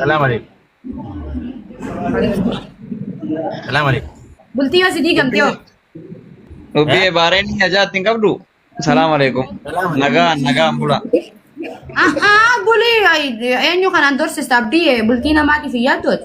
Salaam alaikum. Salaam alaikum. Bultii yoo si diigamte hoo? Dubbii baareen inni ajaa'atti hin qabdu. Salaam alaikum. Nagaa nagaan bula. Ahaa bulii eenyu kanaan dorsista abdii bultii namaatiif hin yaaddooti.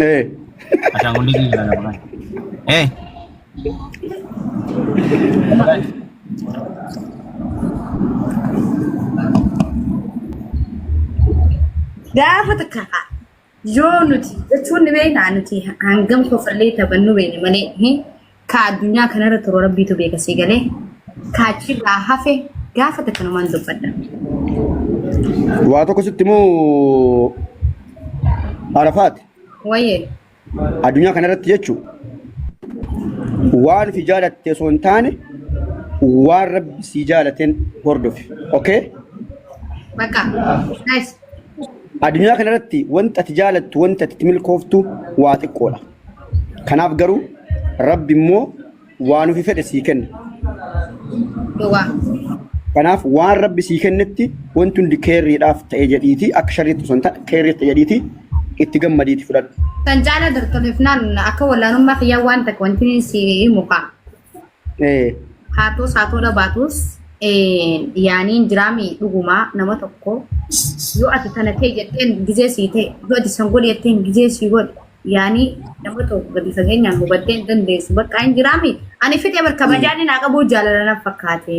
Ee. Ashaangulliitii jira lafa kana. Ee. Lafa kana. Gaafa takka haa. Yoo nuti jechuun ni beekna nuti hangam kofallee taphannu beekne malee. Ka addunyaa kanarra turu rabbiitu beeka sii galee. Ka achirraa hafe gaafa takkanumaan dubbadha. Waa tokko sitti moo Arafaat Wayyee. addunyaa kanarratti jechuun waan fi jaalatte osoo hin taane waan rabbi sii jaalateen hordofi. Okay? Bakka. Nice. Addunyaa kanarratti wanta ati jaalattu wanta ati itti milkooftu waa xiqqoodha. Kanaaf garuu Rabbi immoo waan ofi fedhe sii kenna. Dhugaa. Kanaaf waan Rabbi sii kennetti wanti hundi keerriidhaaf ta'e jedhiiti akka sharriitti osoo hin taane keerriitti ta'e jedhiiti itti gammadiiti fudhadhu. Kan caalaa dartoleef naan akka wallaanummaa kiyyaa waan takka wanti si himu kaa. Ee. Haatus haa tola baatus yaaniin jiraami dhugumaa nama tokko yoo ati tana ta'e jetteen gizee sii ta'e yoo ati san godhe jetteen gizee sii godhe yaanii nama tokko gadi fageenyaan hubattee hin dandeessu bakka hin jiraami ani fidee bar kabajaan hin haa qabuu jaalala na fakkaate.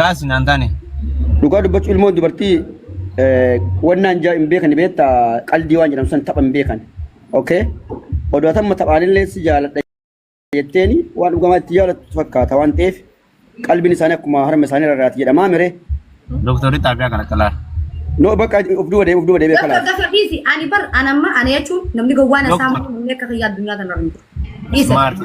kaasi naan taane. Dhugaa dubbachu ilmoon dubartii eh, wannaan jaa hin beekan beekta qaldii waan jedhamu san tapha hin beekan. Okay? Odoo atamma taphaanillee si jaaladha jetteeni waan dhugamaa itti jaalattu fakkaata waan ta'eef qalbiin isaanii akkuma harma isaanii rarraati jedhamaa mire. Doktorri xaabiyaa kana qalaa. No bakka of duuba deebi of duuba deebi akka Doktor laata. gasa dhiisi ani bar anamma ana jechuun namni gowwaan Doktor. asaa malee namni akka kiyya addunyaa kana hin jiru. Dhiisa. Maarti.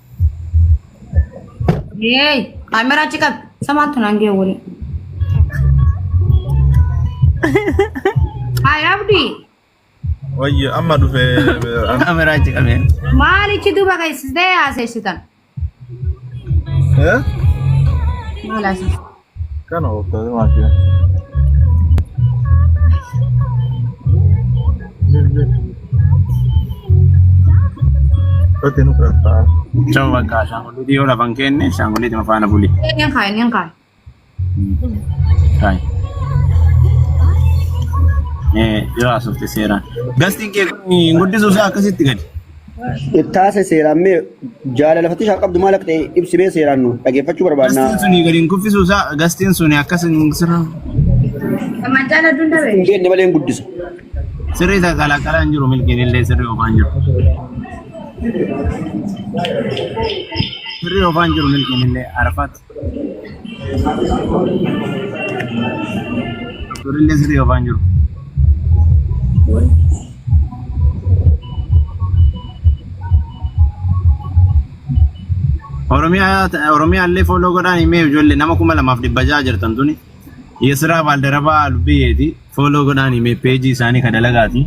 Hey, kamera achi qabi. Isa maaltu naan ga'e wali. Haay Abdi, Wayyo amma dhufe Kameraa achi qabee. maalichi duuba keessistee haaseessitan? Eh? Maal haaseessitan? Kana hordofee maashina. Otti nu fudhataa. Choo bakka ashaangulliitii yoo lafan keenne ashaangulliitii mafaana buli. Eenyuun kaa'e? Eenyuun kaa'e? Taa'e. Ee yoo haasofte seeraan. Gastiin kee kun hin guddisuuf akkasitti gadi. Taase seeraan mee jaalala fatishaa qabdu maal akka ta'e ibsi mee seeraan nu dhageeffachuu barbaadna. Gastiin suni gadi hin kuffisuu isaa gastiin suni akkas hin sirra. Mancaan adduun dabe. Jenne malee hin guddisa. Sirri isa qalaqalaa hin jiru milkiin illee sirri ofaa hin jiru. Sirri ofaa hin jiru milkiin illee arfaatti. Turillee sirrii ofaan jiru. Oromiyaa Oromiyaa illee fooloo godhaan himee ijoollee nama kuma lamaaf dhibba ja'a jirtan tuni. Yesiraa Baaldarabaa Lubbiyeeti fooloo godhaan himee peejii isaanii ka dalagaati.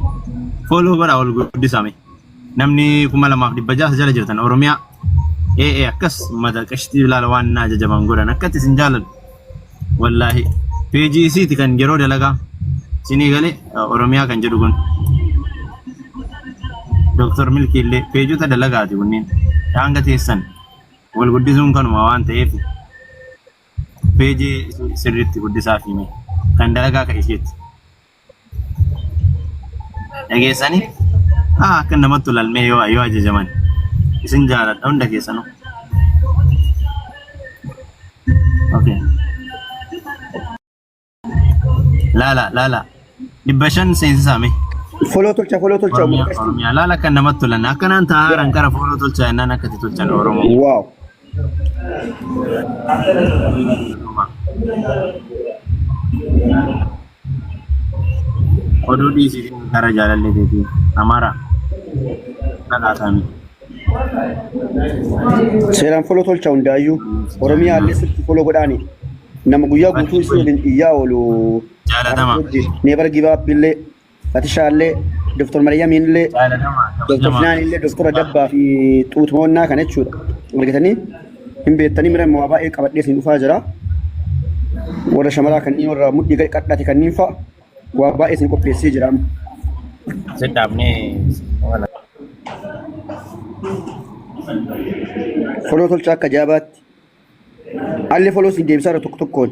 Fooloo godhaa ol guddisame. namni kuma lamaaf dhibba ja'a jala jirtan oromiyaa ee ee akkas mata qashtii ilaala waan naa jajaban godhan akkatti isin jaaladhu wallaahi peejii isiiti kan yeroo dalagaa isinii galee oromiyaa kan jedhu kun Dr. Milkii illee peejota dalagaati kunneen daanga teessan wal guddisuun kanuma waan ta'eef peejii sirriitti guddisaa fi kan dalagaa kan isheetti dhageessanii haa akka namatti tolalmee yoo yoo ajajaman isin jaaladha hunda keessanuu. Okay. Laala laala dhibba shan seensisaa mee. Foloo tolcha foloo tolcha Oromiyaa Oromiyaa laala akka namatti tolan akkanaan taa'aaran gara fooloo tolchaa jennaan akkatti tolchan Oromoo. Waaw. Oduu dhiisii fi gara jaalallee beekii Amaaraa dhadhaasaa miti. Seeraan foloo tolcha hundaayyuu. Oromiyaa illee sirti foloo godhaani. Nama guyyaa guutuu isii waliin iyyaa oolu. Jaalatama. Neebar gibaabbillee. Fatishaallee, Dr. Maryamiinillee, Dr. Finaanillee, Dr. Dabbaa fi Xuutmoonnaa kana jechuudha. Argitanii hin beektanii mira immoo waa baay'ee qabadhee isin dhufaa jira. Warra shamaraa kanneen warra mudhii gadi qadhaate kanneen fa'a waa baay'ee isin qopheessee jira. amma. Sidhaabnee wala Foloo tolcha akka jaabaatti. Allee foloo isin deebisaa irra tokko tokkoon.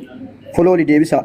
Foloo ni deebisaa.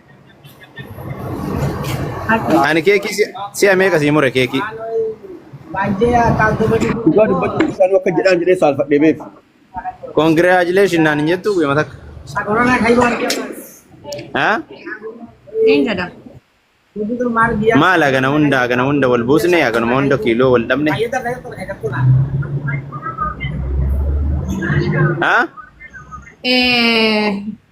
Ani keekii si- si'a meeqa sii mure keekii? Dhugaa dubbachuuf isaanii akka jedhaan jedhee saalfadhee beef. Congratulations naan hin jettu guyyaa takka. Haa? Niin jedha. Maal hagana hunda hagana hunda wal buusne haganuma hunda kiiloo wal dhabne. Haa? Eh,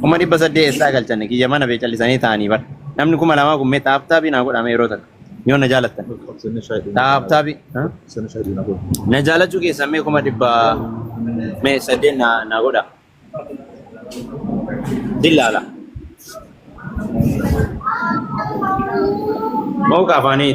Kuma dhibba saddeet eessaa galchanne kiyya mana bee callisanii taa'anii bar. Namni kuma lamaa kun mee taaptaabii naa godhaame yeroo takka. Yoo na jaalattan. Taaptaabii. Na jaalachuu keessan mee kuma dhibba mee saddeet naa naa godha. Dillaala. Mawuqa afaanii.